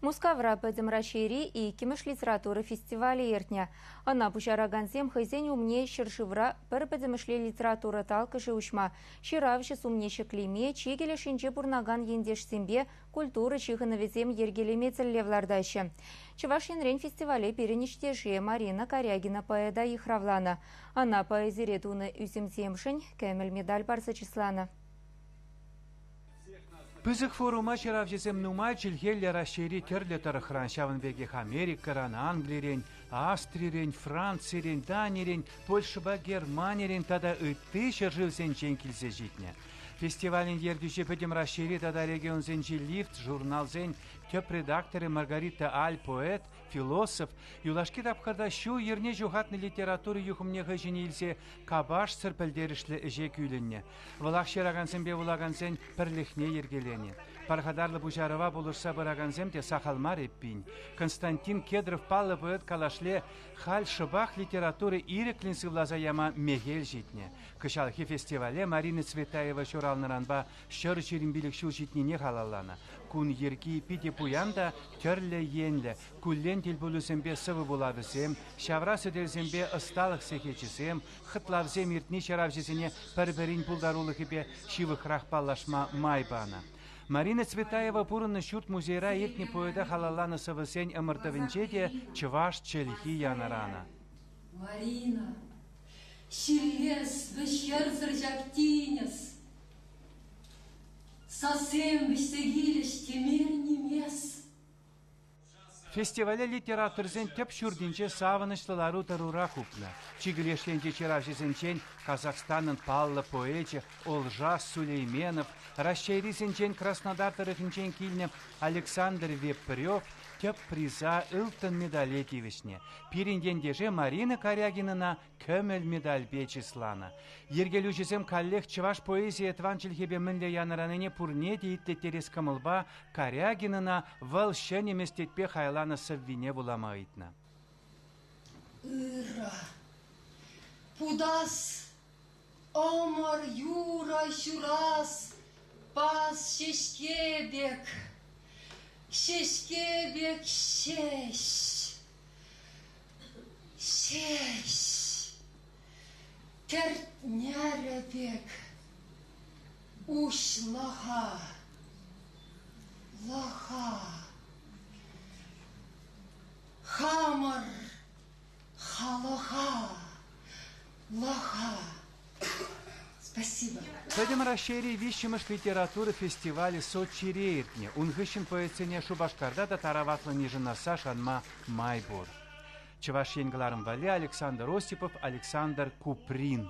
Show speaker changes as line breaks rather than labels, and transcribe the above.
Мускавра Пӗтӗм Раҫҫейри иккӗмӗш литература фестивалӗ иртнӗ. Ӑна пуҫаракансем хӑйсен умне ҫӗршывра пӗр пӗтӗмӗшле литература талккӑшӗ уҫма, ҫыравҫӑ сумне ҫӗклеме, чикӗ лешӗнче пурӑнакан ентешсемпе культура ҫыхӑнӑвӗсем йӗркелеме тӗллев лартаҫҫӗ. Чӑваш Енрен фестивале пирӗн ӗҫтешӗ Марина Карягина поэта йыхравланӑ. Ӑна поэзире тунӑ ӳсӗмсемшӗн кӗмӗл медаль парса чысланӑ.
Пысӑк форума ҫыравҫӑсем нумай чӗлхеллӗ Раҫҫейри тӗрлӗ тӑрӑхран, ҫавӑн пекех Америкӑран, Англирен, Австрирен, Францирен, Данирен, Польшӑпа Германирен тата ытти ҫӗршывсенчен килсе ҫитнӗ. Фестивалӗн ертӳҫи пӗтӗм Раҫҫейри тата регионсенчи лифт журналсен тӗп редакторӗ Маргарита Аль поэт, философ юлашки тапхӑрта ҫул-йӗрне ҫухатнӑ литература юхӑмне хӑй ҫине илсе капашсӑр пӗлтерӗшлӗ ӗҫе кӳлӗннӗ. Вӑлах ҫыракансемпе вулакансен пӗрлӗхне йӗркеленӗ. Пархатарлӑ пуҫарӑва пулӑшса пыракансем те сахал мар эппин. Константин Кедров паллӑ поэт калашле халь шӑпах литература ирӗклӗн сывласа яма мехел ҫитнӗ. Кӑҫалхи фестивале Марина Цветаева ҫуралнӑранпа ҫӗр ҫирӗм пилӗк ҫул ҫитнине халалланӑ. Кун йӗрки питӗ пуян та тӗрлӗ енлӗ, куллен тӗлпулусемпе сӑвӑ вулавӗсем, ҫавра сӗтелсемпе ӑсталӑх сехечӗсем, Хӑтлавсем иртни ҫыравҫӑсене пӗр-пӗрин пултарулӑхӗпе ҫывӑхрах паллашма май панӑ. Марина Цветаева пурӑннӑ ҫурт-музейра иртнӗ поэта халалланӑ сӑвӑсен ӑмӑртӑвӗнче те чӑваш чӗлхи янӑранӑ. Марина,
ҫиллес, вӗҫерсӗр ҫак тинӗс. Сассем вӗҫсе килӗҫ теме нимес. Фестивале
литераторсен тӗп ҫуртӗнче савӑнӑҫлӑ лару-тӑрура хупнӑ. Чикӗ леш енчи ҫыравҫӑсенчен Казахстанӑн паллӑ поэчӗ Олжас Сулейменов, Раҫҫейрисенчен Краснодар тӑрӑхӗнчен килнӗ Александр Вепрев тӗп приза ылтӑн медале тивӗҫнӗ. Пирӗн ентеше Марина Карягинӑна Кӗмӗл медальпе чысланӑ. Йӗркелӳҫӗсем каллех чӑваш поэзийӗ тӑван чӗлхепе мӗнле янӑранине пурне те итлеттерес кӑмӑлпа Карягинӑна вӑл ҫӗнӗ меслетпе хайланӑ сӑввине вулама ыйтнӑ. Ыра.
Путас Ӑмӑр юрӑ ҫурас пас ҫеҫке пек, ҫеҫке пек ҫеҫ, ҫеҫ кӗртнерӗ пек уҫлӑха, лӑха. Хамӑр Халӑха лаха! Спасибо. Пӗтӗм
Раҫҫейри виҫҫӗмӗш литература фестивалӗ Сочире иртнӗ. Ун хыҫҫӑн поэтсене Шупашкарта та тараватлӑн йышӑнасса шанма май пур. Чӑваш Ен кӑларӑм валли Александр Осипов, Александр Куприн.